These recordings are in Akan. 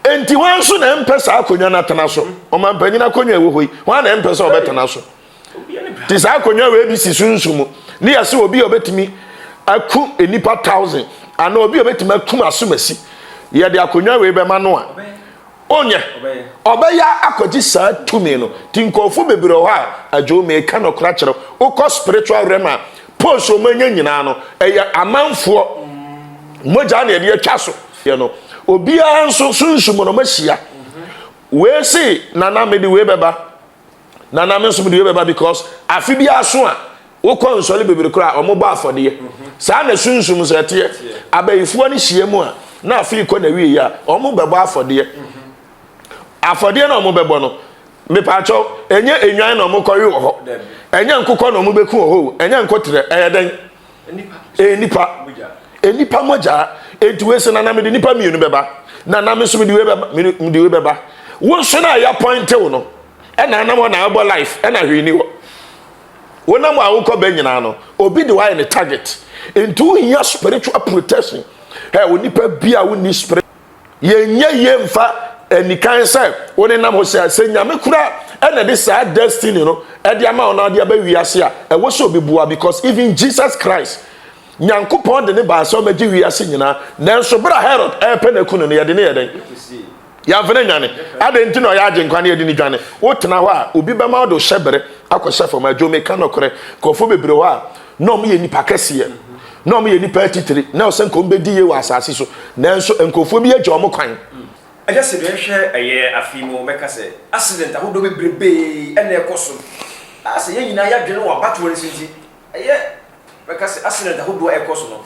Enti hwan nso na ɛmpɛ saa akonnwa no atena so? Ɔmampanyin akonnwa a ɛwɔ hɔ yi, hwan na ɛmpɛ sɛ ɔbɛtena so? Te saa akonnwa wei bi si sunsun mu ne yɛ sɛ obi a ɔbɛtumi aku nnipa thousand anaa obi a ɔbɛtumi akum asomasi. Yɛde akonnwa wei bɛma no a, onyɛ ɔbɛyɛ akɔgye saa tumi no. Ti nkurɔfo bebree wɔ hɔ a, adwo meka nɔkora kyerɛw, wokɔ spiritual realm a, Post a wɔanya nyinaa no, ɛyɛ amanfoɔ mogya na yɛde atwa so. Yɛ no, obiara nso sunsum no mahyia. Wei se nana mede wei bɛba, nana me nso mede wei bɛba because afe bi aso a wokɔ nsɔre bebree koraa a wɔbɔ afɔdeɛ. Saa na sunsum nso ɛteɛ. Abayifoɔ no hyia mu a na afe kɔ n'awieɛ a wɔbɛbɔ afɔdeɛ. Afɔdeɛ no a wɔbɛbɔ no. Mepaakyɛw, ɛnyɛ enwan na wɔkɔwe wɔ hɔ. Ɛnyɛ nkokɔ na wɔbɛku wɔ hɔ o. Ɛnyɛ nkoterɛ. Ɛyɛ dɛn? Ɛyɛ nipa. Nipa mogya. Enti wei sɛ, na na mede nipa mmienu bɛba. Na na me nso mede wei bɛba. Mede wei bɛba. Wo nso na ɛyɛ apɔntew no. Ɛna anam hɔ na ɛbɔ life. Ɛna hwee ni hɔ. Wonam a wokɔ bɛ nyinaa no, obi de wayɛ ne target. Enti wohia spiritual protection. Ɛ, onipa bi a wonni spirit. yɛnyɛ yie mfa anikan sɛ wo ne nam ho sɛ sɛ nyame kura ɛna de saa destiny no ɛde ama wo na ade aba wiase a ɛwɔ sɛ obi boa because even Jesus Christ nyankopɔn de ne baa sɛ ɔmɛgye wiase nyinaa nanso berɛ a Herod ɛrepɛ no aku no no yɛde ne yɛ dɛn yɛmfa no nwane adɛn nti na ɔyɛ agye nkwa no yɛde ne dwane wotena hɔ a obi bɛma wode hyɛ bere akɔhyɛ fam adwo meka nɔkorɛ nkurɔfoɔ bebree hɔ a na wɔyɛ nnipa kɛseɛ na wɔyɛ nnipa atitire na ɔsɛ nka wɔbɛdi yie wɔ asase so nanso nkurɔfoɔ bi agya wɔn kwan. Agya sɛ yɛhwɛ ɛyɛ afei mu wɔbɛka sɛ accident ahodoɔ bebrebee ɛna ɛkɔ so a sɛ yɛn nyinaa yɛadwene wɔ abatoɔ no si nti ɛyɛ bɛka sɛ accident ahodoɔ ɛkɔ so no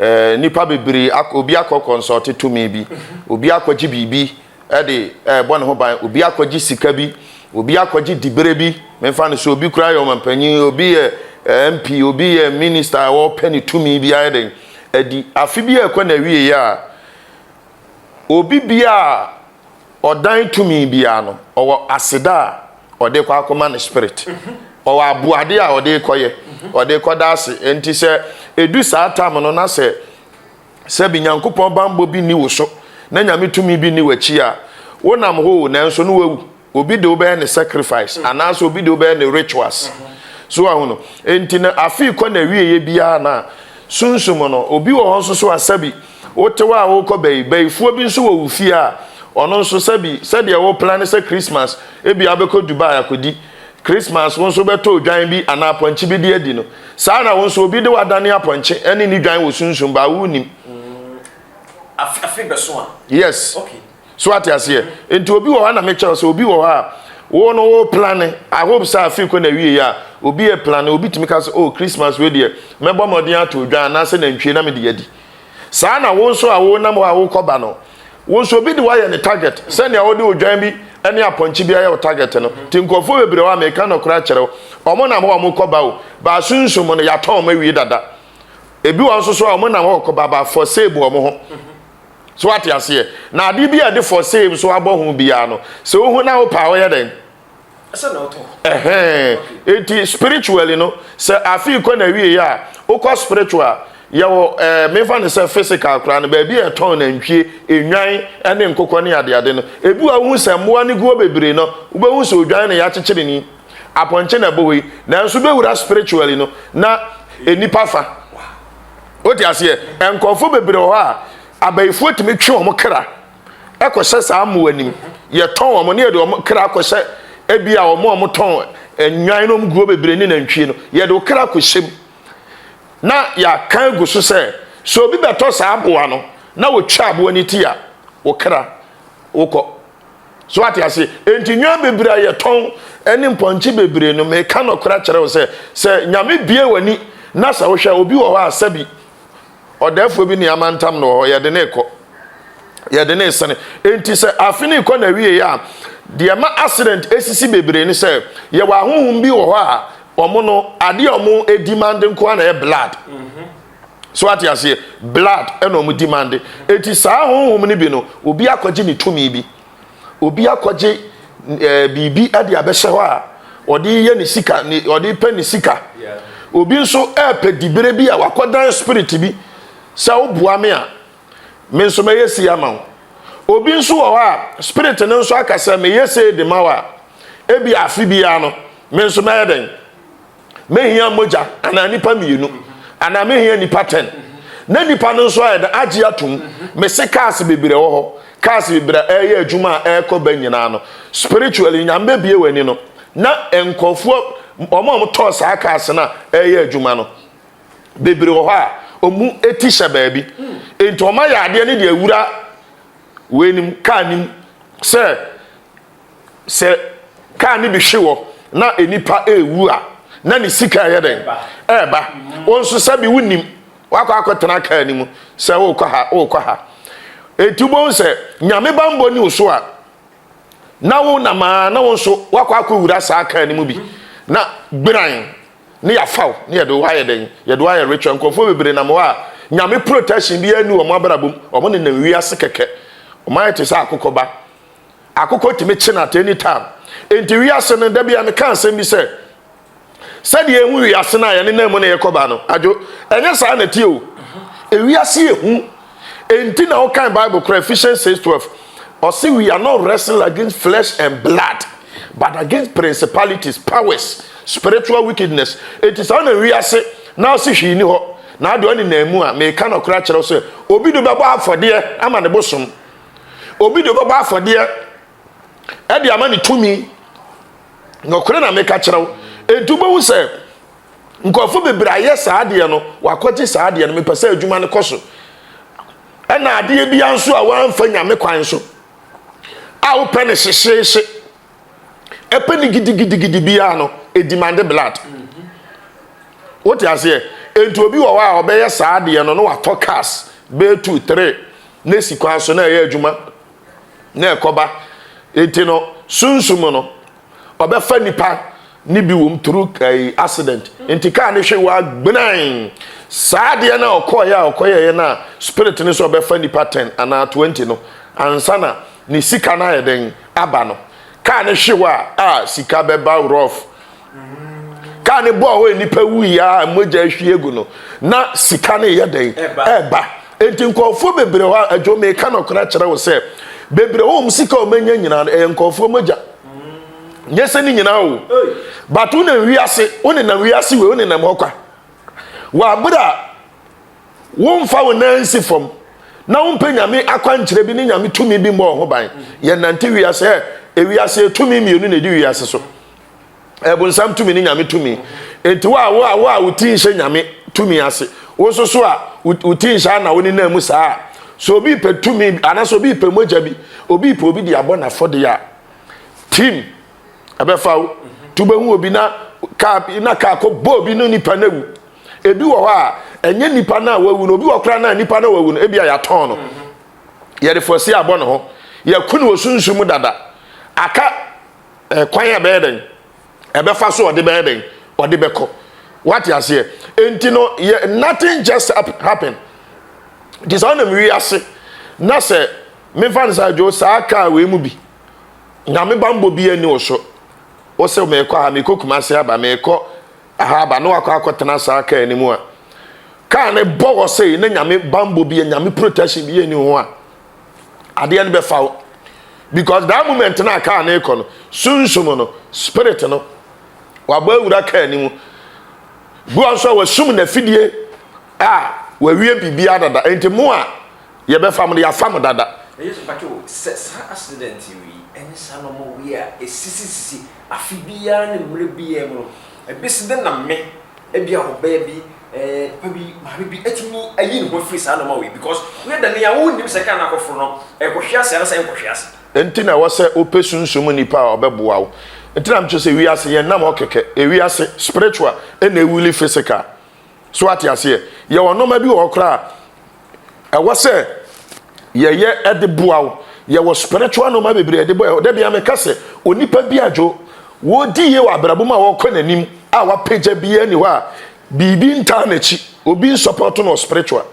Eh, nnipa bebree ak obi akɔkɔnsɔɔte tumi bi, obi akɔgye biribi de rebɔ ne ho ban, obi akɔgye sika bi, obi akɔgye diberɛ bi. Memfa no sɛ obi koraa yɛ ɔmampanyin, obi yɛ eh, MP, obi yɛ minista a ɔrepɛ ne tumi bi ayɛ dɛn adi. Afe bi rekɔ n'awieeɛ a, Obi biara a ɔdan tumi biara no, ɔwɔ aseda a ɔde rekɔ akɔma ne spirit. Ɔwɔ aboade a ɔde rekɔyɛ, ɔde rekɔda ase. Enti sɛ edu saa tam no na sɛ sɛbi Nyankopɔn bammɔ bi nni wo so na Nyame tumi bi nni w'akyi a, wonam hɔ o, nanso na woawu. Obi de wobɛyɛ ne sacrifice anaasɛ obi de wobɛyɛ ne rituals. So wahu no? Enti no afei kɔ n'awieɛ biara no a sunsum no, obi wɔ hɔ nso so a sɛbi wote hɔ a wokɔ bayi, bayifoɔ bi nso wɔ wo fie a ɔno nso sɛbi sɛdeɛ wo plane sɛ Christmas ebi a wobɛkɔ Dubai akɔdi Christmas wo nso wobɛtɔ odwan bi anaa apɔnkye bi de adi no, saa ara na wo nso obi de wadane apɔnkye ne ne dwan wɔ sunsum baa wonnim. Afe bɛso a. Yes. Okay. So wate aseɛ? Nti obi wɔ hɔ na mekyerɛ sɛ obi wɔ hɔ a wo no wo plane I hope sɛ afei kɔ na wie yɛ a obi yɛ plane obi tumi ka sɛ oh Christmas wei deɛ mɛbɔ mmɔden ato odwan anaasɛ nantwie na mede adi saa na wo nso a wo nam hɔ a wokɔba no wo nso obi de woayɛ ne target sɛnea wode odwan bi ne apɔnkye bi ayɛ wo target no nti nkurɔfoɔ bebree hɔ a meka nɔkorɛ akyerɛ wo wɔn nam hɔ a wɔkɔba o baasunsum no yɛatɔn wɔn awie dada ebi wɔn nso so a wɔn nam hɔ kɔba ba for sale bu wɔn ho So wate aseɛ? Na adeɛ bi a yɛde for sale nso abɔ ho biara no, sɛ wohu na wopɛ a, woyɛ dɛn? Ɛsɛ na wotɔ. Ɛhɛn. Enti spiritually no, sɛ afei kɔ na wie yɛ a, wokɔ spiritual a, yɛwɔ ɛɛ eh, memfa no sɛ physical koraa no, baabi a yɛtɔn nantwie, nnwan ne nkokɔ ne adeade no. Ebi wɔ a wohu sɛ mmoa no gu hɔ bebree no, wobɛhu sɛ odwan na yɛakyekyere ni, apɔnkye na ɛbɔ hɔ yi. Nanso wobɛwura spiritually no, na nnipa fa. wote aseɛ nkurɔfoɔ bebree wɔ hɔ a abayifoɔ tumi twe wɔn kra ɛkɔhyɛ saa mmoa anim yɛtɔn wɔn ne yɛde wɔn kra akɔhyɛ ebi a wɔn a wɔtɔn nnwan no guo bebree ne nantwie no yɛde wɔn kra akɔhyɛ mu na yɛaka agu so sɛ sɛ obi bɛtɔ saa aboa no na wɔtwa aboa no ti a wɔn kra wokɔ so ate ase enti nnuan bebree a yɛtɔn ɛne mpɔnkye bebree no meka nɔkora kyerɛ wo sɛ sɛ nyame bie w'ani na sɛ wohwɛ obi wɔ hɔ a sɛbi ɔdɛɛfoɔ bi ne amantam no wɔ hɔ yɛde ne kɔ yɛde ne sene enti sɛ afe ne kɔ na wie a deɛ ma accident esisi bebree ne sɛ yɛwɔ ahohom bi wɔ hɔ a wɔn no adeɛ wɔn edi mande nko na yɛ blood. Mm -hmm. so ate aseɛ blood ɛna ɔmo demand eti saa honhom no bi no obi akɔgye ne tumi bi obi akɔgye ɛɛ eh, biribi ɛde abɛhyɛ hɔ a ɔde yɛ ne sika ne ɔde pɛ ne sika obi nso ɛɛpɛ dibere bi a wakɔdan spirit bi sɛ ɔboa me a me nso mɛyɛ si ama wo obi nso wɔ hɔ a spirit no nso aka sɛ meyɛ sei de ma wo a ebi afe biara no me nso mɛyɛ dɛn. Mehia mogya anaa nnipa mmienu anaa mehia nnipa ten na nnipa no nso ayɛ dɛ agye atom mese cars bebree wɔ hɔ cars bebree a ɛreyɛ adwuma a ɛrekɔ ba nyinaa no spiritually nyame bɛbie w'ani no na nkurɔfoɔ wɔn a wɔtɔɔ saa cars no a ɛreyɛ adwuma no bebree wɔ hɔ a wɔn ti hyɛ baabi nti wɔn ayɛ adeɛ no de awura wei nim kaa nim sɛ sɛ kaa no bi hwe wɔ na nnipa ɛrewu a na ne sika ɛyɛ dɛn ɛreba wo nso sɛbi wonim wakɔ akɔtena kaa no mu sɛ wokɔ ha wokɔ ha ɛti wobɛhu sɛ nyame bambɔ ni wo so a na wo namaa na wo nso wakɔ akɔwura saa kaa no mu bi na gbiran ne yɛafa wo ne yɛde wo ayɛ dɛn yɛde wo ayɛ ritual nkurɔfoɔ bebree nam hɔ a nyame protection bi ani wɔn abrabom wɔn nenam wiase kɛkɛ wɔn ayɛ te sɛ akokɔba Akokɔ tumi kye no at any time. Enti wiase no, da bi a meka asɛm bi sɛ, sɛdeɛ ehu wiase no a yɛne nam mu na yɛkɔba no, adwo, ɛnyɛ saa na ɛteɛ o. Ewiase yɛ hu. Enti na wokan Bible koraa, Ephesians 6:12, ɔse we are not wrestling against flesh and blood, but against principalities, powers, spiritual wickedness. Enti saa na wiase na ɔse hwee ni hɔ. Na adwo ne nam mu a, meka nɔkorɛ akyerɛ wo sɛ, obi de bɛbɔ afɔdeɛ ama ne bosom. Obi de ɔbɛbɔ afɔdeɛ ɛde ama ne tumi. Nɔkorɛ na meka kyerɛ wo. Enti wobɛhu sɛ nkurɔfo bebree ayɛ saa adeɛ no, wakɔgye saa adeɛ no, mepɛ sɛ adwuma no kɔ so. Ɛna adeɛ biara nso a wɔamfa nyame kwan so a wopɛ no hyehyeehye. ɛpɛ ne gidigidigidi biara no edimande blood wote aseɛ nti obi wɔ hɔ a ɔbɛyɛ saa adeɛ no na watɔ cars bɛyɛ two three na esi kwan so na ɛyɛ adwuma na ɛkɔba nti no sunsum no ɔbɛfa nipa ne bi wɔm through ɛɛ eh, accident nti kaa ne hwe wɔ agbenan saa adeɛ na ɔkɔɔyɛ a ɔkɔyɛɛ na spirit ne sɛ ɔbɛfa nipa ten anaa twenty no ansa na ne sika no ayɛ dɛn aba no kaa ne hwe hɔ a a sika bɛba rof kaa ne bɔɔ hɔ nnipa wuyi a mogya ahwie agu no na sika no yɛ dɛn ɛba enti nkɔɔfoɔ bebree hɔ a adwo meka nɔkora kyerɛ wo sɛ bebree hɔ ɔm sika ɔmanya nyinaa no ɛyɛ nkɔɔfoɔ mogya nyɛ sɛ ne nyinaa o but wonam wiase wonenam wiase wei wonenam hɔ kwa wɔ abere a Womfa wo nan nsi fam na wompɛ nyame akwankyerɛ bi ne nyame tumi bi mmɔ ho ban. Yɛnnante wiase ɛ. Ewiase etumi mmienu na edi wiase so. Ɛbonsam tumi ne nyame tumi. Enti wo a wo a wo a wo ti nhyɛ nyame tumi ase. Wo nso so a wo ti nhyɛ ana wo nenam mu saa a. So obi pɛ tumi anaasɛ obi pɛ mogya bi, obi pɛ obi de abɔ n'afɔde a, tim ɛbɛfa wo. Tu bɛhu obi na kaa na kaa kɔ bɔ obi no nipa no awu. Ebi wɔ hɔ a, ɛnyɛ nipa no a wawu no, obi wɔ koraa no a nipa no a wawu no, ebi a yɛatɔn no, yɛde fɔsi abɔ ne ho, yɛako no wɔ sunsum mu dada, aka eh, kwan a ɛbɛyɛ dɛn, ɛbɛfa so ɔde bɛyɛ dɛn, ɔde bɛkɔ. Wate aseɛ? Enti no, yɛ nothing just happen. Nti saa nam wiase na sɛ mefa no saa dwo saa kaa wei mu bi, nyame bambɔ bi ani wo so, wo sɛ meekɔ ha, meekɔ Kumase aba, meekɔ Aha aba ne wakɔ akɔtena saa kaa no mu a kaa no bɔ hɔ sei na nyame bambɔ bi nyame protection bi yɛni ho a adeɛ no bɛfa wo because that moment no a kaa no rekɔ no sunsum no spirit no wabɔ awura kaa no mu bi wɔn nso a wasum n'afidie a wawie biribiara dada nti mo a yɛbɛfa mo no yɛafa mo dada. Ɛyɛ sɛ mpakyɛw sɛ saa accident yi ɛnyɛ saa na ɔmo wie a ɛsisisisi Afe biara ne mmerɛ biara mu no, ɛbɛsi dɛn na me, ebia ɔbaa bi, ɛɛ, papa bi, maame bi, atumi ayi ne ho afiri saa nnoɔma wei yi? Because woyɛ dɛn yi a, wonnim sɛ kaa no akɔforo no, ɛrekɔhwe ase anaasɛ ɛrenkɔhwe ase. Enti na ɛwɔ sɛ wopɛ sunsum mu nipa a ɔbɛboa wo. Enti na mekyerɛ sɛ wiase, yɛnnam hɔ kɛkɛ. Ewiase, spiritual, ɛna ɛwili physical. So woate aseɛ? Yɛwɔ nnoɔma bi wɔ hɔ koraa a, ɛwɔ sɛ yɛyɛ ɛde boa wo yɛwɔ spiritual nneɛma bebree ɛde boa ɔda bia meka sɛ onipa bi adwo wɔdi yie wɔ abrabɔ mu a wɔkɔ n'anim a wapagya biara ni hɔ a biribi ntaa n'akyi obi nsɔpɔto no spiritual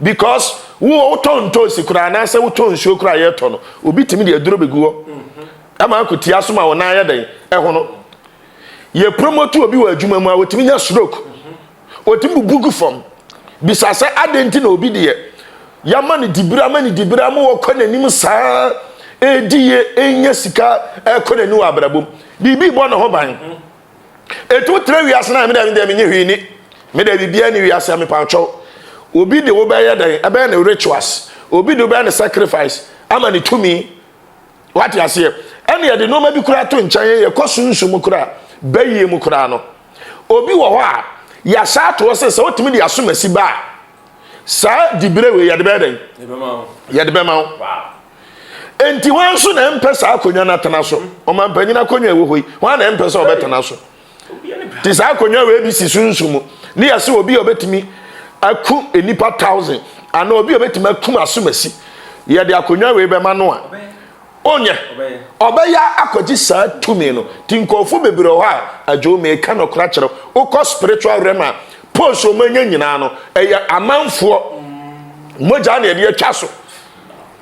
because wo wotɔ ntoosi koraa anaasɛ wotɔ nsuo koraa yɛtɔ no obi tumi de aduro bɛgu hɔ ɛma akotia so ma wɔn ayɛ dɛn ɛho no yɛ promote obi wɔ adwuma mu a wɔtumi nya stroke Wɔtumi bubu gu fam bisa sɛ adɛn nti na obi deɛ yɛama no dibere ama no dibere ama wɔkɔ n'anim saa ɛredi yie ɛnya sika ɛrekɔ n'anim wɔ abrabɔ mu biribi bɔ ne ho ban ɛtumi tena wiase no a meda medeɛ menye hwee ni meda biribiara ne wiase a mepaatwɛw obi de wobɛyɛ dɛn ɛbɛyɛ ne rituals obi de wobɛyɛ ne sacrifice ama ne tumi Wate aseɛ? Ɛne yɛde nnoɔma bi koraa to nkyɛn yɛ yɛkɔ sunsum mu koraa bayie mu koraa no obi wɔ hɔ a yɛasa atoɔ sɛ sɛ wotumi de asomasi ba a saa dibere wei yɛde bɛyɛ dɛn yɛde bɛma wo enti wɔn nso na ɛmpɛ saa akonnwa no atena so ɔmampanyini akonnwa ɛwɔ hɔ yi wɔn na ɛmpɛ sɛ ɔbɛtena so te saa akonnwa wei bi si so nsu mu ne yɛ sɛ obi a obetumi aku nnipa thousand anaa obi a obetumi akum asomasi yɛde akonnwa wei bɛma no a onyɛ ɔbɛyɛ akɔgye saa tumi no ti nkɔɔfo bebree hɔ a adwo mee ka no kora kyerɛ wokɔ spiritual realm a post wɔn anya nyinaa no ɛyɛ amanfoɔ mogya na yɛde atwa so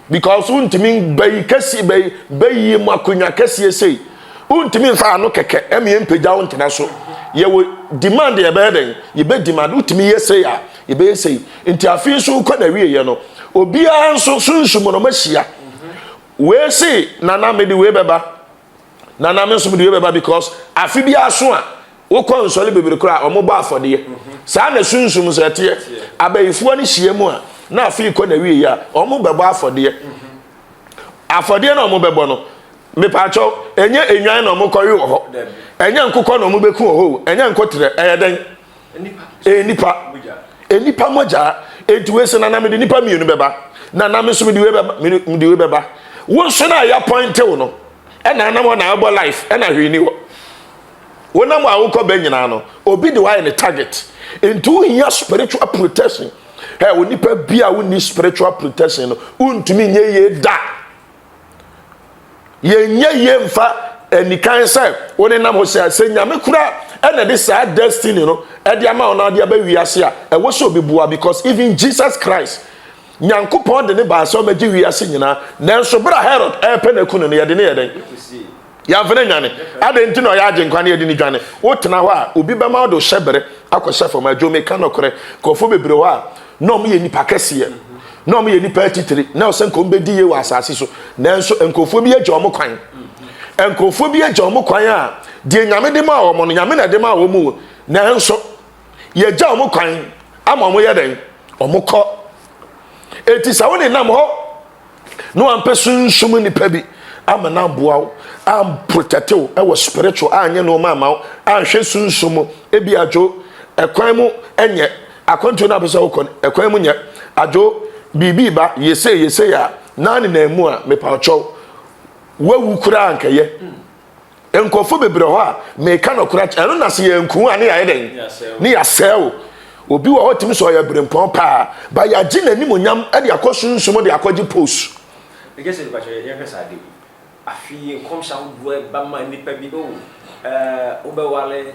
because wontumi bɛyi kɛseɛ bɛyi bɛyie mu akonnwa kɛseɛ sei wontumi nfa ano kɛkɛ ɛmi yɛn mpagya wo ntena so yɛwɔ demand yɛbɛyɛ dɛn yɛbɛ demand wotumi yɛ sei a yɛbɛyɛ sei nti afei nso wokɔ na wie yɛ no obiara nso sunsum no mahyia wei se nana mede wei bɛba na na me nso mede wei bɛba because afe bi aso a wokɔ nsɔre bebree koraa a wɔbɔ afɔdeɛ mhm. saa na sunsum sɛ ɛteɛ abayifoɔ no hyia mu a na afe kɔ na wie a wɔn bɛbɔ afɔdeɛ mhm. afɔdeɛ na wɔn bɛbɔ no mepaakyɛw ɛnyɛ enwan na wɔn kɔwe wɔ hɔ ɛnyɛ nkokɔ na wɔn bɛku wɔ hɔ ɛnyɛ nkotrɛ ɛyɛ dɛn. ɛyɛ nipa nipa mogya enti wei sɛ nana mede nipa mmienu bɛba nana me nso mede wei bɛba mede wei bɛba wo nso na ɛyɛ apɔntew no ɛna anam hɔ na ɛbɔ life ɛna hwee ni hɔ wonam a wokɔ bɛ nyinaa no obi de wayɛ ne target nti wohia spiritual protection ɛ wo nipa bi a wonni spiritual protection no wontumi nyɛ yie da yɛnyɛ yie mfa anikan sɛ wo ne nam hɔ sɛ sɛ nyame kura ɛna de saa destiny no ɛde ama wo na ɔde aba wiase a ɛwɔ sɛ obi boa because even jesus christ nyankopɔn de ne baa sɛ ɔmɛgye wiase nyinaa nanso berɛ a herod ɛrepɛ no aku no no yɛde ne yɛ dɛn Yɛamfa no annwane. Adɛn nti na ɔyɛ Agyenkwa na yɛde no dwane? Wotena hɔ a, obi bɛma wode wo hyɛbere akɔhyɛ fam. Adwo, meka nokorɛ, nkurɔfoɔ bebree wɔ hɔ a, na wɔyɛ nnipa kɛseɛ, na wɔyɛ nnipa atitire, na ɛwɔ sɛ nka wɔbɛdi yie wɔ asase so, nanso nkurɔfoɔ bi agya wɔn kwan. Nkurɔfoɔ bi agya wɔn kwan a, deɛ Nyame de maa wɔn no, Nyame na ɛde maa wɔn o, nanso yɛagya wɔn kwan ama wɔyɛ dɛn? Wɔkɔ. Enti sɛ wonenam hɔ na wampɛ sunsum nnipa bi ama no aboa wo amprotɛte wo ɛwɔ spiritual anyɛ nneɛma ama wo anhwɛ sunsum mu ebi adwo ɛkwan mu ɛnyɛ akwantuo no apɛ sɛ wokɔ ɛkwan mu nyɛ adwo biribi ba yɛsei yɛsei a na nenam mu a mepa ɔkyɛw wawu koraa nkɛyɛ nkurɔfoɔ bebree wɔ hɔ a meka nɔkorɛ akyɛ ɛno na sɛ yɛnku a ne yɛayɛ dɛn ne yɛasɛe o obi wɔ hɔ tumi sɛ ɔyɛ berempɔn paa ba yɛagye n'anim onyam de akɔ sunsum de akɔgye pos ɛgye sɛ nipa kyɛ yɛhwɛ saa de afei nkɔmhyɛ ahodoɔ ɛba ma nipa bi o ɛɛ wobɛwale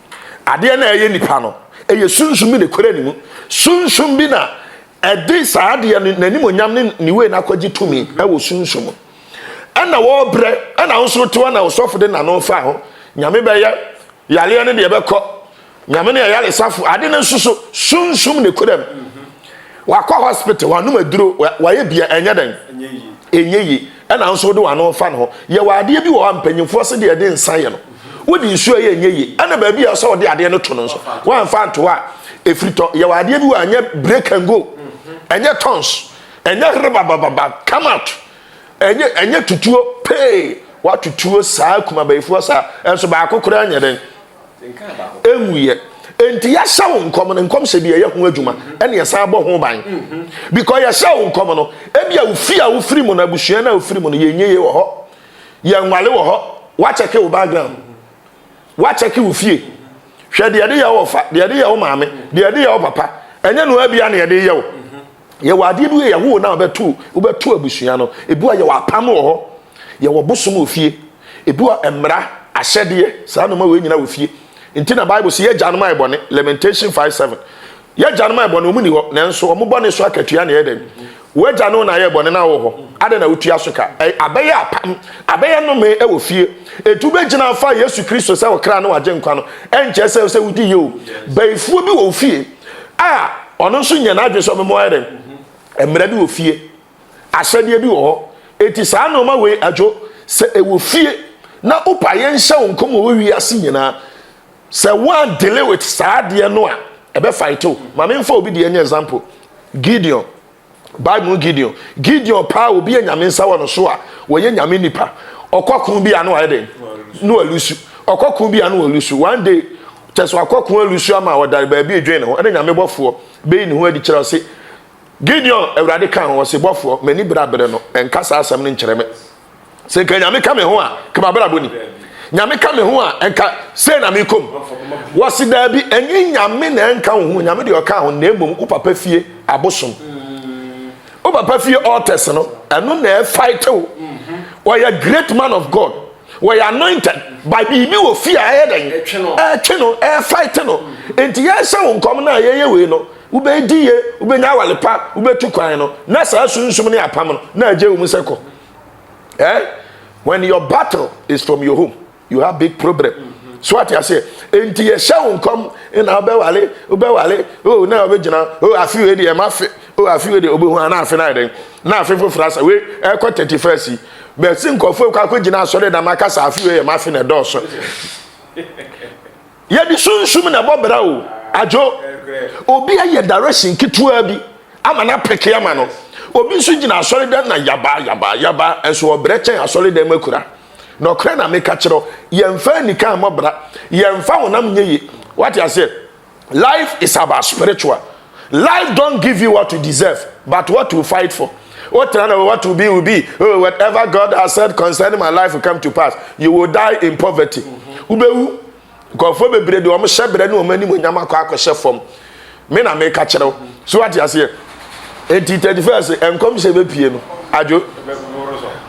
Adeɛ no a ɛyɛ nipa no, ɛyɛ sunsum bi na ɛkura ne mu. Sunsum bi na ɛde saa adeɛ no n'animonyam ne ne wei no akɔgye tumi wɔ sunsum mu. Ɛna wɔbrɛ, ɛna wo nso tewa na ɔsɔfo de n'ano fa ho. Nyame bɛyɛ, yareɛ no deɛ bɛkɔ. Nyame no yɛ yaresafo. Ade no nso so, sunsum na ɛkura mu. wakɔ hospital wanom aduro wayɛ bia ɛnyɛ dɛn ɛnyɛ yie ɛna nso wode wano fa no hɔ yɛwɔ adeɛ bi wɔ hɔ a mpanyimfoɔ se deɛ ɛde nsa yɛ no wode nsuo yɛ ɛnyɛ yie ɛna baabi a ɛsɛ wɔde adeɛ no to no nso woamfa nto a ɛfiri tɔ yɛwɔ adeɛ bi wɔ a ɛnyɛ break and go ɛnyɛ tons ɛnyɛ rebabababa come out ɛnyɛ ɛnyɛ tutuo pee watutuo saa kumabayifoɔ saa ɛnso baako koraa nyɛ dɛn ɛnwuiɛ. Enti yɛahyɛ wo nkɔm no, nkɔmhyɛ bi yɛyɛ ho adwuma ɛne yɛsan bɔ ho ban. Because yɛhyɛ wo nkɔm no, ebia wo fie a wofiri mu no, abusua no a wofiri mu no, yɛnyɛ yie wɔ hɔ, yɛnwale wɔ hɔ, woakyɛke wo background, woakyɛke wo fie. Hwɛ deɛ yɛde yɛ wo ɔfa, deɛ yɛde yɛ wo maame, deɛ yɛde yɛ wo papa, ɛnyɛ no ara bia na yɛde yɛ wo. Yɛwɔ adeɛ bi yɛ yɛwo na wobɛto wobɛto abusua no ebi wɔ yɛwɔ apam wɔ hɔ yɛwɔ bosom wɔ fie ebi wɔ mmara ahyɛdeɛ saa noma wei nyina wɔ fie nti na bible sɛ yɛgya nom ayɛ bɔne lamentation 5 7 yɛgya nom ayɛ bɔne ɔmu ni hɔ nanso ɔmu bɔne so akatua na ɛyɛ dɛn wagya no na ayɛ bɔne na wɔ hɔ adɛ na wotua so ka abɛyɛ apam abɛyɛ nome wɔ fie ɛti wobɛgyina afa yesu kristo sɛ ɔkra ne wagye nkwa no ɛnkyɛ sɛ sɛ wodi yɛ o bɛyifuo bi wɔ fie a ɔno nso nya n'adwene sɛ ɔmɛma ayɛ dɛn mmara bi wɔ fie ahyɛdeɛ bi wɔ hɔ eti saa nneɛma wei adwo sɛ ɛwɔ fie na wopa yɛn nhyɛ wo nkɔm wɔ wiase nyinaa sɛ wɔn dele with saa adeɛ no a ɛbɛ fight o maame nfa obi deɛ nyɛ example gideon Bible mu Gideon. Gideon paa obi a nyame nsa wɔ no so a wɔyɛ nyame nipa. Ɔkɔko bi a no ayɛ dɛn? No alusu. Ɔkɔko bi a no alusu. One day, kyɛ sɛ ɔkɔko alusu ama ɔdare baabi edwen ne ho. Ɛna nyame bɔfoɔ bɛyi ne ho adi kyerɛ ɔse, Gideon, awurade ka ho ɔse bɔfoɔ, m'ani berɛaberɛ no, ɛnka saa asɛm no nkyerɛ me. sɛ nka nyame ka me ho a nka mabrabɔ ni nyame ka me ho a nka sei na mekɔm wɔse daabi ɛnyɛ nyame na ɛnka wo ho nyame deɛ ɔka ho na mmom wo papa fie abosom wo papa fie altars no ɛno na ɛfaite wo wɔyɛ great man of god wɔyɛ anointed by biribi wɔ fie a ɛyɛ dɛn ɛtwe no ɛfaite no enti yɛhyɛ wo nkɔm no a yɛyɛ wei no Wobɛdi yie, wobɛnya awale pa, wobɛtu kwan no, na saa sunsum ne apam no, na agye wo mu sɛ kɔ. Eh? When your battle is from your home, you have big problem. Mm-hmm. So ate aseɛ, enti yɛhyɛ wo nkɔm na wobɛwale, wobɛwale, oh, na wobɛgyina, oh, afe wei deɛ ɛma fe, oh, afe wei deɛ wobɛhu ana afe no ayɛ dɛn, na afe foforɔ asa, wei ɛkɔ 31 yi, bɛsi nkɔfoɔ kɔ akɔgyina asɔre dam akasa afe wei yɛ ma afe na ɛdɔɔso. yɛde sunsum na ɛbɔ bra o adwo obi ayɛ direction ketewa bi ama no apɛke ama no obi nso gyina asɔre dɛm na yaba yaba yaba nso ɔbrɛ kyɛn asɔre dɛm akura na ɔkora na meka kyerɛ yɛmfa anika mmɔ bra yɛmfa honam nyɛ ye wate aseɛ life is about spiritual Life don't give you what you deserve but what you fight for Wo tena na what will be will be oh, Whatever God has said concerning my life will come to pass You will die in poverty mm-hmm. Wobɛwu Nkurɔfoɔ bebree de wɔn hyɛ berɛ ne wɔn anim onyam akɔ akɔhyɛ fam Me na meka kyerɛ wo So ate aseɛ Enti 31st nkɔmhyɛ bɛpie no adwo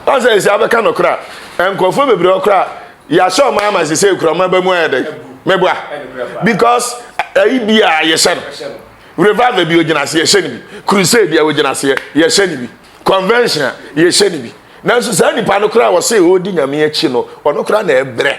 Ɔsɛ ɛsɛ abɛka no koraa Nkurɔfoɔ bebree ɔkoraa yɛahyɛ ɔma ama sɛ sɛ ɛkura ɔma ba mu ayɛ dɛ mɛboa because ayi eh, bi a yɛhyɛ no revival bi ogyina ase yɛhyɛ no bi crusade a ogyina ase yɛhyɛ no bi convention a yɛhyɛ no bi nanso saa nipa no koraa wɔsɛ ɔredi nyame akyi no ɔno koraa na ɛbrɛ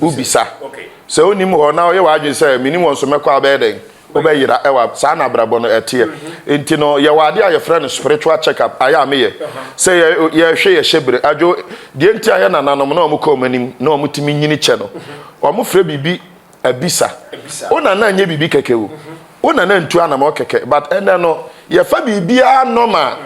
wobisa. Sɛ wonnim hɔ na woyɛ w'adwene sɛ, Mennim wɔn so mɛkɔ a, wobɛyɛ dɛn? Wobɛyera. Ɛwɔ a, saa na abrabɔ no teɛ. Enti no, yɛwɔ adeɛ a yɛfrɛ no spiritual check-up, ayɛ a meyɛ. Sɛ yɛ, yɛhwɛ yɛn hyɛbere. Adwo, deɛ nti a yɛn nananom na wɔkɔ wɔn anim na wɔtumi nyini kyɛ no, wɔfrɛ biribi abisa. Wo nana nyɛ biribi kɛkɛ o. Wo nana ntu anamɔ kɛkɛ. But ɛnnɛ no, yɛfa biribiara normal.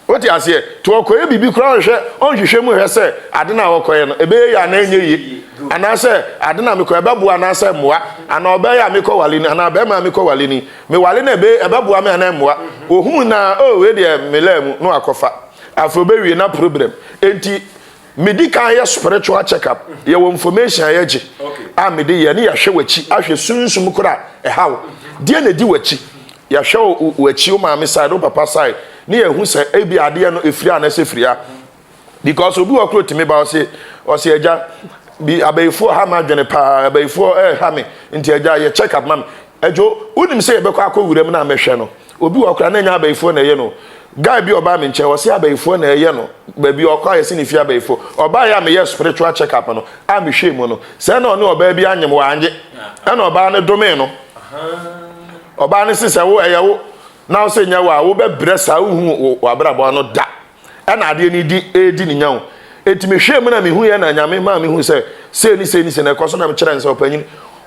Wote aseɛ? Nti ɔkɔyɛ biribi koraa ɔnhwɛ, ɔnhwehwɛ mu nhwɛ sɛ ade no a ɔkɔyɛ no, ɛbɛyɛ yie anaa ɛnyɛ yie. Anaasɛ ade no a mekɔ, ɛbɛboa anaasɛ ɛmmoa. Anaa ɔbaa yi a mekɔwale ni, anaa barima a mekɔwale ni, mewale no a, ɛbɛyɛ, ɛbɛboa me anaa ɛmmoa. Ɔhunu no ara, oh, wei deɛ, me laa mu, na wakɔfa. Afei ɔbɛwie, na problem. Enti. Medi kan yɛ spiritual check up yɛ wɔ information a yɛgye a mede yɛ ne yɛhwɛ w'akyi ahwɛ sunsum koro a ɛha wo deɛ na ɛdi w'akyi yɛhwɛ wo w'akyi wo maame side wo papa side ne yɛhu sɛ ebi adeɛ no ɛfiri a na sɛ firi a because obi wɔ koro tumi ba ɔse ɔse agya bi abayifoɔ ha ma adwene paa abayifoɔ ɛha me nti agya yɛ check up ma me adwo wonim sɛ yɛbɛkɔ akɔ wuram na mɛhwɛ no Obi wɔ hɔ koraa na ɛnyɛ abayifoɔ na ɛyɛ no. Guy bi a ɔbaa me nkyɛn, ɔse abayifoɔ na ɛyɛ no. Baabi a ɔkɔ a yɛse ne fie abayifoɔ. Ɔbaeɛ a meyɛɛ spiritual check up no, a mehwɛɛ mu no, sɛ na ɔne ɔbaa bi anyem, wannye. Ɛna ɔbaa no domee no. Ɔbaa no se sɛ wo, ɛyɛ wo, na wo se nyɛ wo a, wobɛbrɛ saa, wonhu w'abrabɔ no da. ɛna adeɛ no di ɛredi ne nya o enti mehwɛɛ mu na mehu yɛ na nyame maa mehu sɛ sei ne sei ne sei na ɛkɔ so na mekyerɛ no sɛ ɔpanyin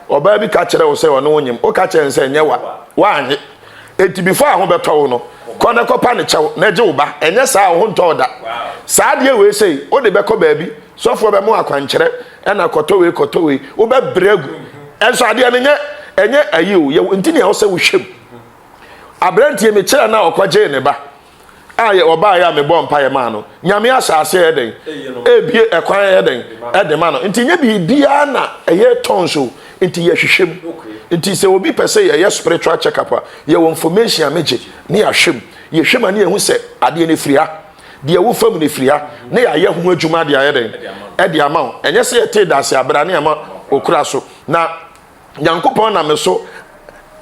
ɔbaa bi ka kyerɛ wo sɛ ɔne wo nyem woka kyerɛ no sɛ ɛnyɛ wa woanye enti before a ho bɛtɔ wo no kɔ na kɔpa ne kyɛw na gye wo ba ɛnyɛ saa a ho ntɔ da saa adeɛ wei sei wode bɛkɔ baabi sɔfoɔ bɛmo akwankyerɛ ɛna kɔtɔ wei kɔtɔ wei wobɛbrɛ agu ɛnso adeɛ no nyɛ ɛnyɛ ayi o yɛ nti nea wo sɛ wohwɛ mu aberanteɛ mekyerɛ no a ɔkɔgyee ne ba a yɛ ɔbaeɛ a mebɔɔ mpaeɛ maa no nyame ahyɛ aseɛ yɛ dɛn ɛbie ɛkwan yɛ dɛn ɛde ma no nti nyɛ biribiara na ɛyɛ tɔn so nti yɛhwehwɛ mu nti sɛ obi pɛ sɛ yɛyɛ spiritual check up a yɛwɔ information a megye ne yɛahwɛ mu yɛhwɛ mu a ne yɛhu sɛ adeɛ no firi ha deɛ ɛwɔ fam no firi ha ne yɛayɛ ho adwuma de ayɛ dɛn ɛde ama wo ɛnyɛ sɛ yɛtee daase abera ne ɛma okura so na nyankopɔn na me so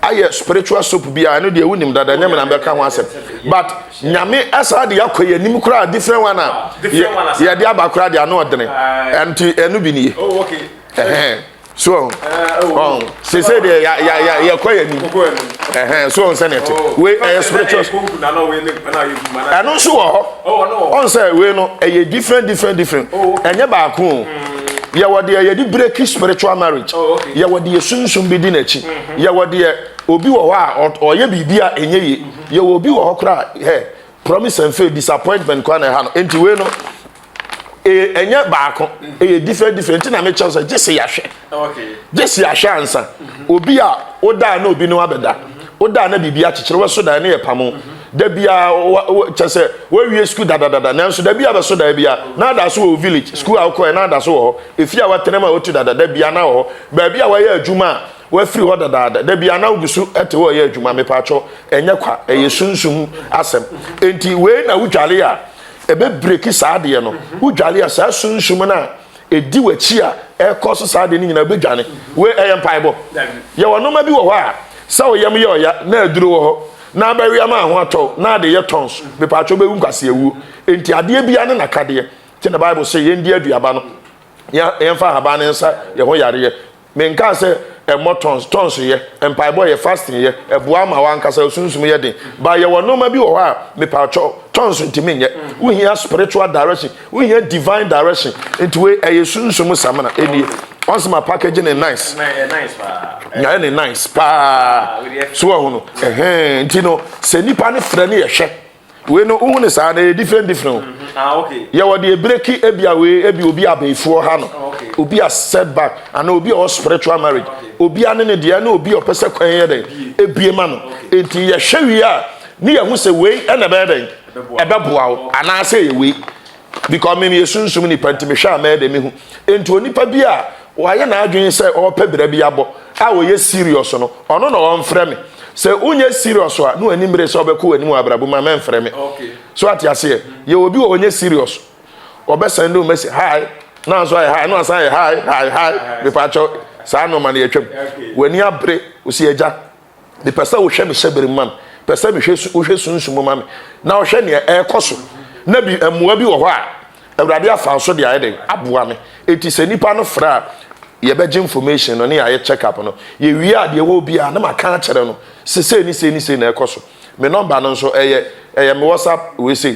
ayɛ spiritual soap bi a ɛno deɛ wonim dada nyɛ me na bɛka ho asɛm but nyame ɛsaa de akɔ yɛ anim koraa different one a yɛde aba koraa de ano ɔdene ɛnti ɛno bi nie oh, so ɔn oh, oh. sese deɛ ya ya ya yɛkɔ yɛ anim ɛhɛn so ɔn sɛ ne ɛte wei ɛyɛ spiritual ɛno nso wɔ hɔ ɔn sɛ wei no ɛyɛ different different different ɛnyɛ baako o. yɛwɔ deɛ yɛde breki spiritual marriage oh, yɛwɔ deɛ sunsun bi di n'akyi mm-hmm. yɛwɔ deɛ obi wɔ hɔ a ɔyɛ biribi a ɛnyɛ yie mm-hmm. yɛwɔ obi wɔ hɔ koraa hɛ promise and faith disappointment kwan na ɛha no nti wei no ɛnyɛ e, baako mm-hmm. ɛyɛ different different nti na mi kyɛw sɛ gye se yahwɛ gye se yahwɛ ansa obi a odaa na obi no abɛda odaa na biribi akyekyere wɛso dan ne yɛ pamo Da bi a kyɛ sɛ woawie sukuu dadadada nanso da bi a bɛso da bi a na ada so wɔ wo village sukuu a wokɔɛ na ada so wɔ hɔ efie a woatena mu a wotu dada da bi a na wɔ hɔ baabi a woayɛ adwuma a woafiri hɔ dadaada da bi a na wogu so te hɔ yɛ adwuma mepaakyɛw ɛnyɛ kwa ɛyɛ sunsum asɛm enti wei na wodwale a ɛbɛbreki saa adeɛ no wodwale a saa sunsum no a ɛdi w'akyi a ɛkɔ so saa de no nyinaa bɛdwane wei ɛyɛ mpaebɔ yɛwɔ nnoɔma bi wɔ hɔ a sɛ woyam yɛ ɔya na aduro wɔ hɔ na abɛwea ma ho atɔ na ade yɛ tɔn so mepaatwɛ bɛwu nkwase awuo enti adeɛ bia ne nakadeɛ kyɛ na bible sɛ yɛndi aduaba no yɛmfa ahaban ne nsa yɛ ho yareɛ Me nkaa sɛ ɛmmɔ tons, tons yɛ, mpaebɔ yɛ, fasting yɛ, ɛboa ma w'ankasa osunsum yɛ den, but yɛwɔ nnoɔma bi wɔ hɔ a mepawkyɛw, tons ntumi nyɛ, wohia spiritual direction, wohia divine direction, nti wei ɛyɛ sunsum samina, ɛnie, ɔn sɛ ma package ne nice, nyayɛ ne nice paa, so wahu no, ɛhɛɛn, nti no sɛ nipa no frɛ no yɛhwɛ. Wei no wohu no saa no ɛyɛ different different o. Mm-hmm. Ah, okay. Yɛwɔ deɛ breki ebi a wei ebi obi abɛɛfoɔ ha no. Ah, okay. Obi a setback ana obi a ɔwɔ spiritual marriage. Ah, okay. Obi a ne ne deɛ ne obi a ɔpɛ sɛ kwan yɛ dɛn ebie ma no. Okay. Nti yɛhwɛ wie a ne yɛhu sɛ wei ɛna ɛbɛyɛ dɛn ɛbɛboa wo anaasɛ ɛyɛ wei. because me meyɛ sunsum nipa nti mehwɛ a mɛyɛ dɛ mehu nti onipa bi a wayɛ n'adwene sɛ ɔrepɛ bira bi abɔ a ɔyɛ serious no ɔno na ɔmfrɛ me sɛ wonyɛ serious a na w'ani mmere sɛ ɔbɛkɔ w'anim wɔ abrabɔ mu a mɛmfrɛ me so ate aseɛ yɛ obi wɔ ɔnyɛ serious ɔbɛsɛn de wo mɛsi hi na nso ayɛ hi na wasan ayɛ hi hi hi mepaakyɛw saa nnoɔma no yɛtwam w'ani abere wo si agya Mepɛ sɛ wohwɛ me hyɛbere mu ma me. Pɛ sɛ mehwɛ su wohwɛ sunsum mu ma me. Na wohwɛ nea ɛrekɔ so. Na bi mmoa bi wɔ hɔ a Awurade afa so de ayɛ dɛn aboa me. Enti sɛ nipa no frɛ a yɛbɛgye information no ne yɛayɛ check up no. Yɛwie a deɛ ɛwɔ biara na maka akyerɛ no sɛ sei ne sei ne sei na ɛrekɔ so. Me nɔmba no nso ɛyɛ ɛyɛ me WhatsApp wei sei.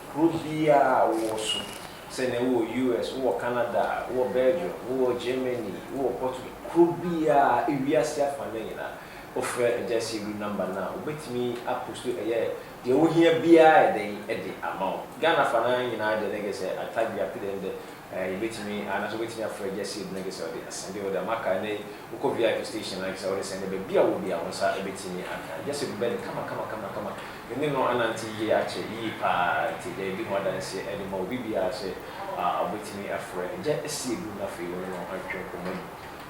Kuro biara a wowɔ so, sɛ nea wowɔ US, wowɔ Canada, wowɔ Belgium, wowɔ Germany, wowɔ Portugal, kuro biara, ewiase afanan nyinaa, wofrɛ Agya Asiedu number no a, obetumi aposto ɛyɛ deɛ wohia biara ayɛ dɛn de ama wo. Ghana afanan nyinaa deɛ na gye sɛ Atadwe, Apedɛ no dɛ ɛɛ yɛbetumi anaasɛ wobetumi afrɛ Agya Asiedu na gye sɛ ɔde asɛnde wode ama ka. Ɛnnɛ yi wokɔ VIP station a gye sɛ wode sɛnde baabi a wɔ biara wo nsa betumi aka Agya Asiedu bɛ no kama kama kama kama. Me ne no anante yie akyɛ yie paa nti daabi ho adanseɛ de ma obi biara sɛ ɔbɛtumi afrɛ no gya asi adum na afei wo ne no atwe nkɔmmɔ mu.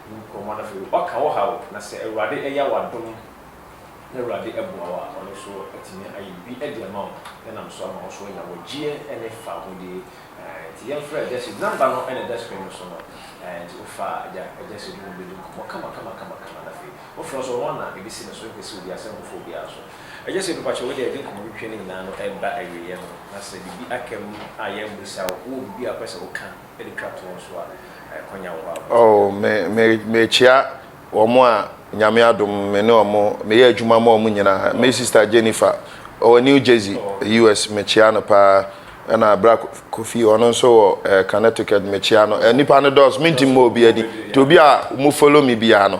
Wo nkɔmmɔ no afei ɔka wo haw na sɛ Awurade ɛya wo adom na Awurade ɛboa wo a ɔno nso atumi ayɛ biribi ɛde ama wo na nam so ama wo nso anya wɔgyeɛ ɛne fahodie. Nti yɛmfrɛ gya asi, number no ɛna ɛda screen no so no nti wo fa gya gya asi adum no bɛdi nkɔmmɔ kama kama kama kama na afei wo frɛ nso ɔno na ɛbɛsi no so ɛmpɛ sɛ obi asɛ nkɔfa obiara so. Ɛnyɛ sɛ onipa kyerɛw de a yɛde nkɔmmɔ twetwe no nyinaa no reba awieeɛ no, na sɛ biribi aka mu a yɛammisa wo, wowɔ biribi a wopɛ sɛ woka de twa toɔ nso a, kɔnya wo hɔ a wobɛtumi aka. Me, me, mekyea wɔn a Nyame adom me ne wɔn, meyɛ adwuma ma wɔn nyinaa. Me sista Jennifer, ɔwɔ New Jersey, US, mekyea no paa. Ɛna bra Kofi, ɔno nso wɔ eh, Connecticut, mekyea no. Eh, nnipa no dɔɔso, mentumi mmɔ obi adi. Nti obi a mo follow me biara no,